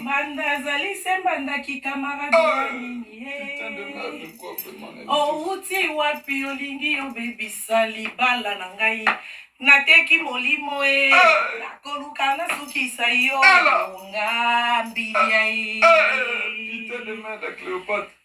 Mbanda azali se mbanda kikamaradi ya ah! nini owuti oh, wapi olingi obebisa libala na ngai nateki molimo e eh! nakoluka nasukisa yo ngambi ya e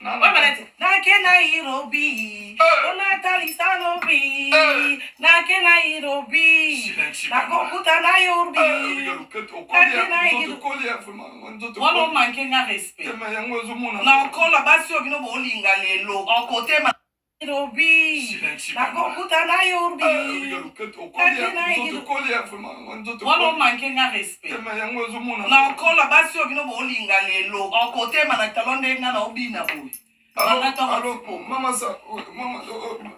Nake Nairobi, unatalisa eh. Nairobi, eh. nake Nairobi, nakokuta Nairobi, nake Nairobi. Wana manke nga respect. Nakola basi oyo bino bolinga lelo, okotema. Nairobi nakokuta na yo wana omanke nga respect nakola basi oyo bino bolinga lelo okotema na talo nde nga na obina boye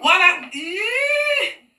wana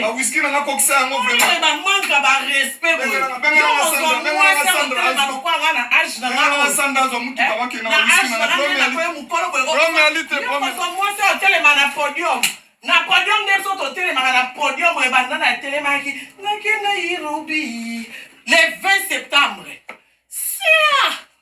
bawiski nanga kokisa yango bamanka barespect azwa motuka bakenda mokolo boyeomwasi otelema na podium na podium nde biso totelemaka na podium oyo banda na etelemaki nakenda irobi le 20 septembre sia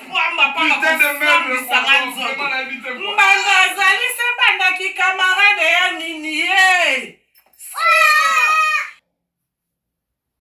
pamba mpona kosambisa nga nzoto mbanda azali se bandaki kamarade ya nini ye